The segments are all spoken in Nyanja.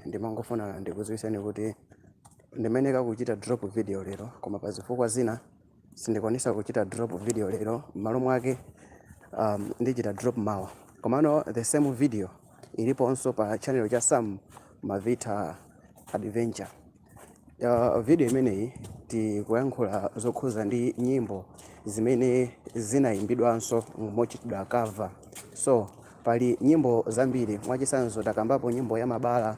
ndimangofuna ndikuziwiseni kuti ndimayeneka kuchita drop video lero koma pa zifukwa zina sindikwanisa kuchita drop video lero m'malo mwake um, ndichita drop mawa komano the same video iliponso pa channel cha sam malvitha adventure Uh, video imeneyi tikuyankhula zokhuza ndi nyimbo zimene zinayimbidwanso mochitidwa cover so pali nyimbo zambiri mwachisanzo takambapo nyimbo ya mabala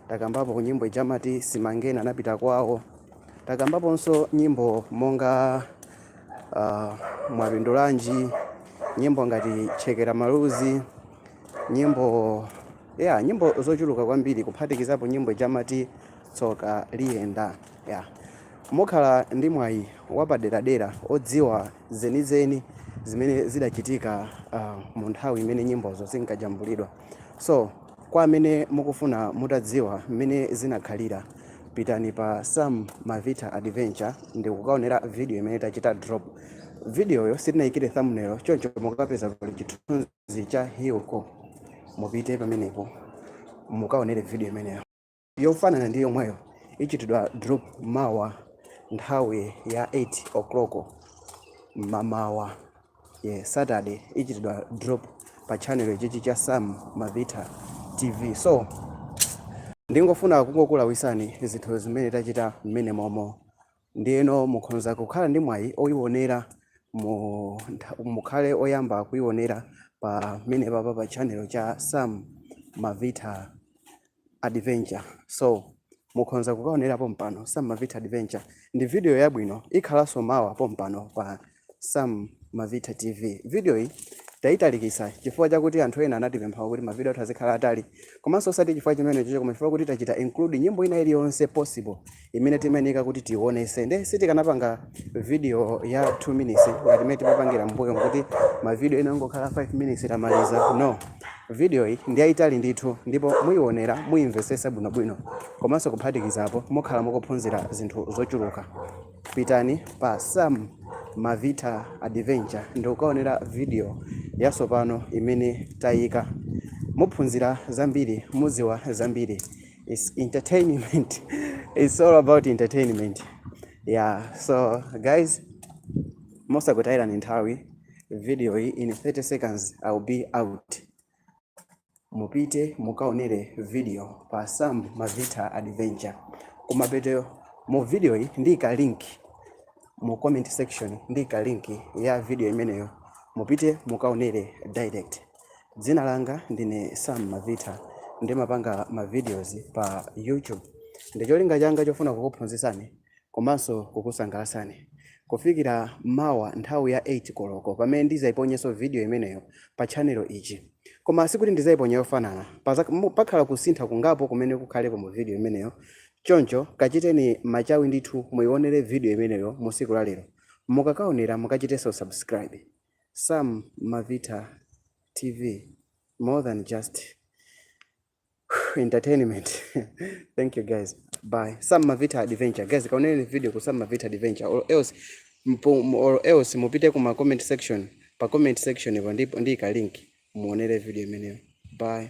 takambapo nyimbo ija amati simangena anapita kwawo takambaponso nyimbo monga uh, mwapindulanji nyimbo ngati chekera maluzi nyimbo Yeah, nyimbo zochuluka kwambiri kuphatikizapo nyimbo ija amati tsoka liyenda. Yeah. Mukhala ndi mwayi wapaderadera odziwa zenizeni zimene zidachitika ah, mu nthawi imene nyimbozo zinkajambulidwa. So, kwa amene mukufuna mutadziwa mmene zinakhalira, pitani pa Sam Malvitha Adventure ndi kukaonera video imene tachita drop. Videoyo sitinayikire thumbnail, choncho mukapeza pali chithunzi cha Hilco, mupite pamenepo mukaonere video imeneyo yofanana ndi yomweyo ichitidwa drop mawa nthawi ya 8 o'clock mamawa yeah, Saturday ichitidwa drop pa channel chichi cha Sam Malvitha TV so ndingofuna kungokulawisani zinthu zimene tachita mmenemomo Ndiyeno mukhonza kukhala ndi mwayi oyiwonera mu ntha mukhale oyamba kuyiwonera pamenepapa pa channel cha Sam Malvitha Adventure so mukhonza kukawonera pompano Sam Malvitha Adventure ndi video yabwino ikhalanso mawa pompano pa Sam Malvitha TV. Video iyi taitalikisa chifukwa chakuti anthu ena anatipempha kuti mavidiyo azikhala atali komanso osati chifukwa chimenechicho koma chifukwa kuti tachita include nyimbo ina iliyonse possible imene timayenera kuti tionese nde sitikanapanga video ya 2 minutes ngati mmene timapangira mbuyo kuti mavidiyo ena angokhala 5 minutes tamaliza no video iyi ndi yayitali ndithu ndipo muyionera muyimvesesa bwinobwino komanso kuphatikizapo mukhala mukuphunzira zinthu zochuluka pitani pa sam malvitha adventure ndikukaonera video yasopano imene tayika muphunzira zambiri muziwa zambiri its entertainment its all about entertainment yeah so guys mosakutayirani nthawi video iyi in 30 seconds i'll be out Mupite mukaonere video pa Sam Mavitha Adventure. Kumapeto mu video yi ndiyika link mu comment section, ndiyika link ya video imeneyo, mupite mukaonere direct. Dzina langa ndine Sam Mavitha, ndimapanga ma videos pa YouTube. Ndicholinga changa chofuna kukuphunzitsani komanso kukusangalatsani kufikira mawa nthawi ya 8 koloko pamene ndizaiponyenso video imeneyo pa channel ichi. Koma sikuti ndizaiponya yofanana, pakhala kusintha kungapo kumene kukhalepo mu video imeneyo, choncho kachiteni machawi ndithu muionere video imeneyo mu siku la lero. Mukakaonera mukachitenso subscribe. Sam Mavitha TV, more than just. entertainment thank you guys bye some mavita adventure guys kaoneni video ku some mavita adventure or else mpo, m- or else mupite ku ma comment section pa comment section ipo ndipo ndi ka link muonere video imeneyo bye